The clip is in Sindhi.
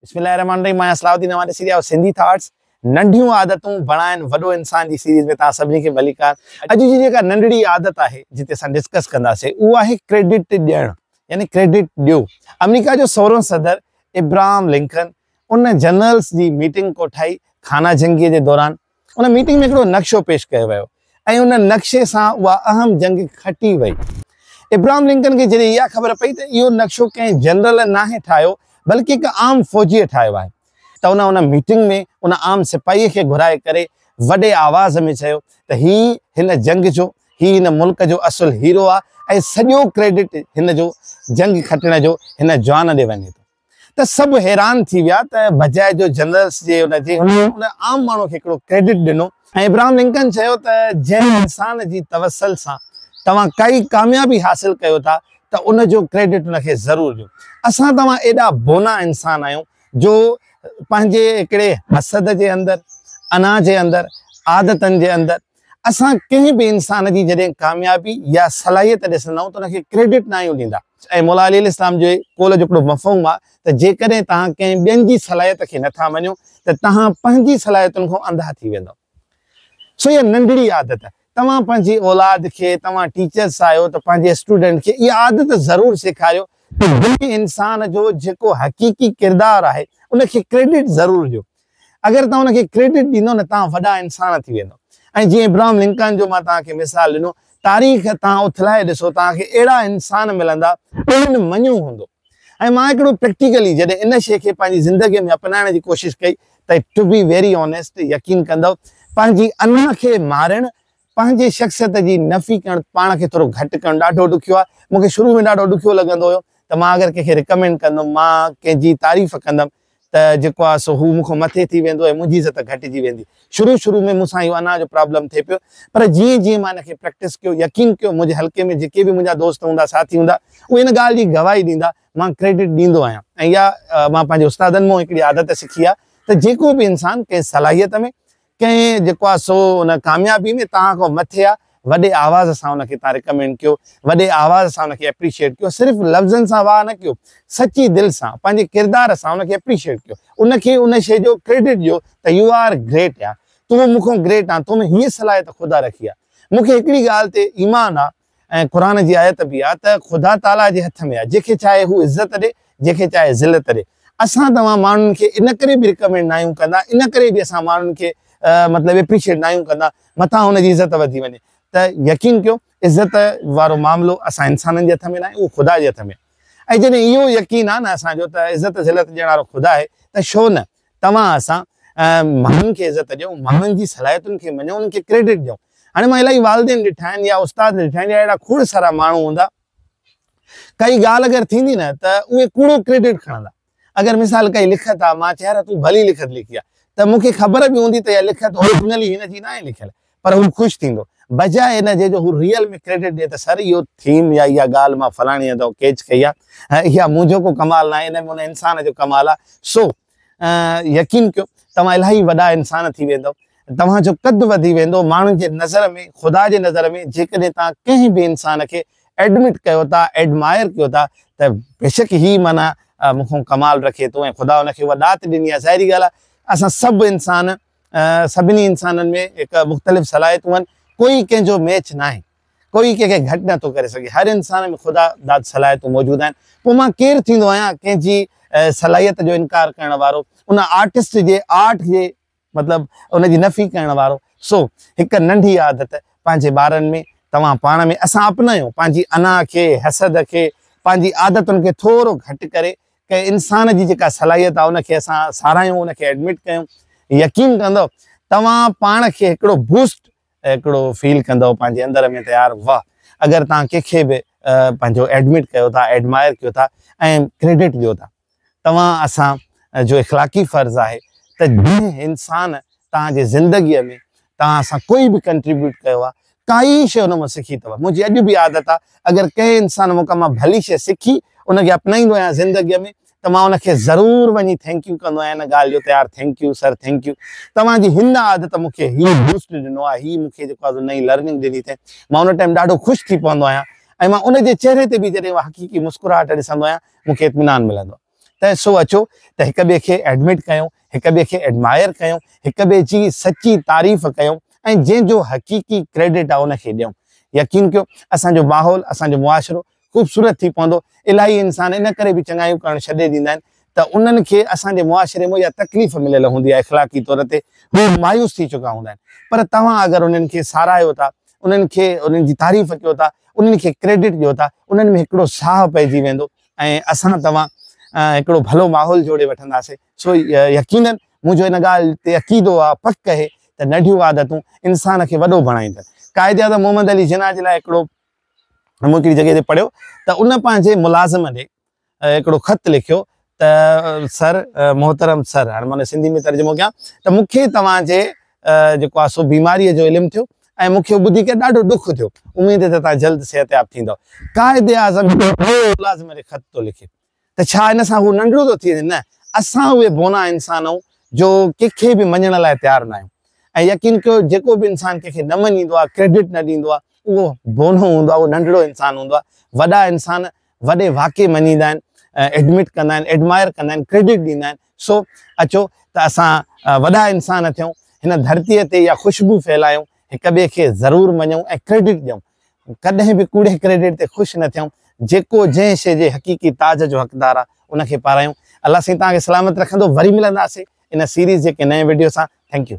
بسم الله الرحمن الرحيم مان آهيان صلاح الدين اوهان ڏسي رهيا آهيو سنڌي ٿاٽس ننڍيون عادتون بڻائن وڏو انسان جي سيريز ۾ توهان سڀني کي ڀليڪار اڄ جي جيڪا ننڍڙي عادت آهي جتي اسان ڊسڪس ڪنداسين اهو آهي ڪريڊٽ ڏيڻ يعني ڪريڊٽ ڏيو آمريڪا جو سورهون صدر ابراهم لنڪن ان جنرلس جي ميٽنگ ڪوٺائي خانه جنگي جي دوران ان ميٽنگ ۾ هڪڙو نقشو پيش ڪيو ويو ۽ ان نقشي سان اها اهم جنگ کٽي وئي. ابراهم لنڪن کي جڏهن اها خبر پئي ته اهو نقشو ڪنهن جنرل ناهي ٺاهيو بلڪ هڪ عام فوجيء ٺاهيو آهي ته ان ان ميٽنگ ۾ ان عام سپاهيء کي گهرائي ڪري وڏي آواز ۾ چيو ته هي هن جنگ جو، هي هن ملڪ جو اصل هيرو آهي ۽ سڄو ڪريڊٽ هن جو جنگ کٽڻ جو هن جوان ڏي وڃي ٿو. ته سڀ حيران ٿي ويا ته بجاء جو جنرلس جي ان جي ان عام ماڻهو کي هڪڙو ڪريڊٽ ڏنو ۽ ابراهم لنڪن چيو ته جنهن انسان جي توسل سان توهان ڪائي ڪاميابي حاصل ڪيو ٿا ته ان جو ڪريڊٽ ان کي ضرور ڏيو اسان توهان ايڏا بونا انسان آهيون جو پنهنجي هڪڙي حسد جي اندر انا جي اندر عادتن جي اندر اسان ڪنهن به انسان جي جڏهن ڪاميابي يا صلاحيت ڏسندا آهيون ته ان کي ڪريڊٽ نه آهيون ڏيندا ۽ مولا علي السلام جي قول جو هڪڙو مفهوم آهي ته جيڪڏهن توهان ڪنهن ٻين جي صلاحيت کي نٿا مڃو ته توهان پنهنجي صلاحيتن کان انڌا ٿي ويندؤ سو اها ننڍڙي عادت توهان پنهنجي اولاد کي توهان ٽيچرس آهيو ته پنهنجي اسٽوڊنٽ کي اها عادت ضرور سيکاريو ته جنهن انسان جو جيڪو حقيقي ڪردار آهي ان کي ڪريڊٽ ضرور ڏيو اگر توهان ان کي ڪريڊٽ ڏيندو نه توهان وڏا انسان ٿي ويندو ۽ جيئن ابراهم لنڪن جو مان توهان کي مثال ڏنو تاريخ توهان اٿلائي ڏسو توهان کي اهڙا انسان ملندا جن مڃيو هوندو ۽ مان هڪڙو پريڪٽيڪلي جڏهن ان شيء کي پنهنجي زندگي ۾ اپنائڻ جي ڪوشش ڪئي ته ٽو بي ويري آنيسٽ يقين ڪندو پنهنجي انا کي مارڻ پنهنجي شخصيت جي نفي ڪرڻ پاڻ کي ٿورو گهٽ ڪرڻ ڏاڍو ڏکيو آهي مون کي شروع ۾ ڏاڍو ڏکيو لڳندو هيو ته مان اگر ڪنهن کي رڪمينڊ ڪندم مان ڪنهن جي تعريف ڪندم ته جيڪو آهي سو هو مون کان مٿي ٿي ويندو ۽ منهنجي عزت گهٽجي ويندي شروع شروع ۾ مون سان اهو انا جو پرابلم ٿي پيو پر جيئن جيئن مان ان کي پريڪٽس ڪيو يقين ڪيو منهنجي حلقي ۾ جيڪي به منهنجا دوست هوندا ساٿي هوندا اهي ان ڳالهه جي گواهي ڏيندا مان ڪريڊٽ ڏيندو آهيان ۽ اها مان پنهنجي استادن مون هڪڙي عادت سکي آهي ته جيڪو به انسان ڪنهن صلاحيت ۾ ڪنهن جيڪو آ سو ان ڪاميابي ۾ توهان کان مٿي آ وڏي آواز سان ان کي توهان ريڪمينڊ ڪيو وڏي آواز سان ان کي اپريشيئيٽ ڪيو صرف لفظن سان واهه نه ڪيو سچي دل سان پنهنجي ڪردار سان ان کي اپريشيئيٽ ڪيو ان کي ان شي جو ڪريڊٽ ڏيو ته يو آر گريٽ يار تون مون کان گريٽ آن تو ۾ هيء صلاحيت خدا رکي آ مون کي هڪڙي ڳالهه تي ايمان آ ۽ قرآن جي آيت به آ ته خدا تعاليٰ جي هٿ ۾ آ جنهن کي چاهي هو عزت ڏي جنهن کي چاهي ذلت ڏي اسان توهان ماڻهن کي ان ڪري به رڪمينڊ ناهيون ڪندا ان ڪري به اسان ماڻهن کي مطلب اپريشيٽ ناهيون ڪندا مٿان هن جي عزت وڌي وڃي ته يقين ڪيو عزت وارو معاملو اسان انسانن جي هٿ ۾ ناهي اهو خدا جي هٿ ۾ آ ۽ جڏهن اهو يقين آ نه اسان جو ته عزت ذلت ڏيڻ وارو خدا آهي ته شو نه توهان اسان ماڻهن کي عزت ڏيو، ماڻهن جي صلاحيتن کي مڃو، انهن کي ڪريڊٽ ڏيو. هاڻي مان الائي والدين ڏٺا آهن يا استاد ڏٺا آهن يا اهڙا کوڙ سارا ماڻهو هوندا، ڪائي ڳالهه اگر ٿيندي نه ته اهي ڪوڙو ڪريڊٽ کڻندا. اگر مثال ڪائي لکت آ، مان چيهار تون ڀلي لکت لکي آ، ته مون کي خبر به هوندي ته اها لکت اورجنلي هن جي ناهي لکيل، پر هو خوش ٿيندو. بجاء ان جي جو هو ريئل ۾ ڪريڊٽ ڏئي ته سر اهو ٿيم يا اها ڳالهه مان فلاڻي هنڌئون ڪيچ ڪئي آهي ۽ اها منهنجو ڪو ڪمال ناهي ان ۾ ان انسان جو ڪمال آهي سو يقين ڪيو توهان الاهي وڏا انسان ٿي ويندؤ توهان جو قد وڌي ويندو ماڻهن جي نظر ۾ خدا جي نظر ۾ جيڪڏهن توهان ڪنهن به انسان کي ايڊمٽ ڪيو ٿا ايڊمائر ڪيو ٿا ته بيشڪ هي معنيٰ مون کان ڪمال رکي ٿو ۽ خدا ان کي اها ڏات ڏني آهي ظاهري ڳالهه آهي اسان سڀ انسان سڀني انسانن ۾ هڪ مختلف صلاحيتون آهن ڪوئي ڪنهن جو ميچ ناهي ڪوئي ڪنهن کي گهٽ نٿو ڪري سگهي هر انسان ۾ خدا داد صلاحيتون موجود آهن پوء مان ڪير ٿيندو آهيان ڪنهن جي صلاحيت جو انڪار ڪرڻ وارو ان آرٽسٽ جي آرٽ جي مطلب ان جي نفي ڪرڻ وارو سو هڪ ننڍي عادت پنهنجي ٻارن ۾ توهان پاڻ ۾ اسان اپنايون پنهنجي انا کي حسد کي پنهنجي عادتن کي ٿورو گهٽ ڪري ڪنهن انسان جي جيڪا صلاحيت آهي ان کي اسان ساراهيون ان کي ايڊمٽ ڪيون يقين ڪندؤ توهان پاڻ کي هڪڙو بوسٽ هڪڙو فيل ڪندؤ پنهنجي اندر ۾ ته يار واه اگر توهان ڪنهن کي به پنهنجو ايڊمٽ ڪيو ٿا ايڊمائر ڪيو ٿا ۽ ڪريڊٽ ڏيو ٿا توهان اسان جو اخلاقي فرض آهي ته جنهن انسان توهان جي زندگي ۾ توهان اسان ڪوئي به ڪنٽريبيوٽ ڪيو آ ڪائي شئي ان مان سکي اتو منهنجي اڄ به عادت آ اگر ڪنهن انسان مون کان مان ڀلي شئي سکي ان کي اپنائيندو آهيان زندگي ۾ ته مان ان کي ضرور وڃي ٿينڪيو ڪندو آهيان ان ڳالهه جو ته يار ٿينڪيو سر ٿينڪيو توهان جي هن عادت مون کي هي بوسٽ ڏنو آ هي مون کي جيڪو آ سو نئين لرننگ ڏني ٿئي مان ان ٽائيم ڏاڍو خوش ٿي پوندو آهيان ۽ مان ان جي چهري تي به جڏهن اها حقيقي مسڪراهٽ ڏسندو آهيان مون کي اطمينان ملندو آ. ته سو اچو ته هڪ ٻئي کي ايڊمٽ ڪيون، هڪ ٻئي کي ايڊمائر ڪيون، هڪ ٻئي جي سچي تعريف ڪيون ۽ جنهن جو حقيقي ڪريڊٽ آ ان کي ڏيون. يقين ڪيو اسان جو ماحول، اسان جو معاشرو خوبصورت ٿي پوندو. الاهي انسان ان ڪري به چڱايون ڪرڻ ڇڏي ڏيندا آهن ته انهن کي اسان جي معاشري مون اها تڪليف مليل هوندي آهي اخلاقي طور تي هو مايوس ٿي چڪا هوندا آهن پر توهان اگر انهن کي ساراهيو ٿا، انهن کي انهن جي تعريف ڪيو ٿا، انهن کي ڪريڊٽ ڏيو ٿا، انهن ۾ هڪڙو ساهه پئجي ويندو. ۽ اسان توهان هڪڙو ڀلو ماحول جوڙي وٺنداسين. سو يقينن منهنجو ان ڳالهه تي عقيدو آ، پڪ اهي ته ننڍيون عادتون انسان کي وڏو بڻائيندن. قائد اعظم محمد علي جناح جي لاء هڪڙو مون هڪڙي جڳهه تي پڙهيو ته ان پنهنجي ملازم ڏي هڪڙو خط لکيو ته سر محترم سر هاڻي مان ان جو سنڌي ۾ ترجمو ڪيان ته مون کي توهان جي جيڪو آ سو بيماريء جو علم ٿيو ۽ مون کي اهو ٻڌي ڪري ڏاڍو ڏک ٿيو. اميد آهي ته توهان جلد صحتياب ٿيندؤ. قائداعظم هڪڙو نئون ملازم کي خط ٿو لکي ته ڇا ان سان هو ننڍڙو ٿو ٿي وڃي؟ نه، اسان اهي بونا انسان آهيون جو ڪنهن کي به مڃڻ لاء تيار ناهيون. ۽ يقين ڪيو جيڪو به انسان ڪنهن کي نه مڃيندو آهي، ڪريڊٽ نه ڏيندو آهي، اهو بونو هوندو آهي، اهو ننڍڙو انسان هوندو آهي. وڏا انسان وڏي واقعي مڃيندا آهن ايڊمٽ ڪندا آهن ايڊمائر ڪندا آهن ڪريڊٽ ڏيندا آهن سو اچو ته اسان وڏا انسان ٿيون هن ڌرتي تي اها خوشبو ڦهلايون هڪ ٻئي کي ضرور مڃون ۽ ڪريڊٽ ڏيون ڪڏهن به ڪوڙي ڪريڊٽ تي خوش نه ٿيون جيڪو جنهن شي جي حقيقي تاج جو حقدار آ ان کي پارايون الله سائين توهان کي سلامت رکندو وري ملنداسين ان سيريز جي ڪنهن نئين ويڊيو سان ٿينڪ يو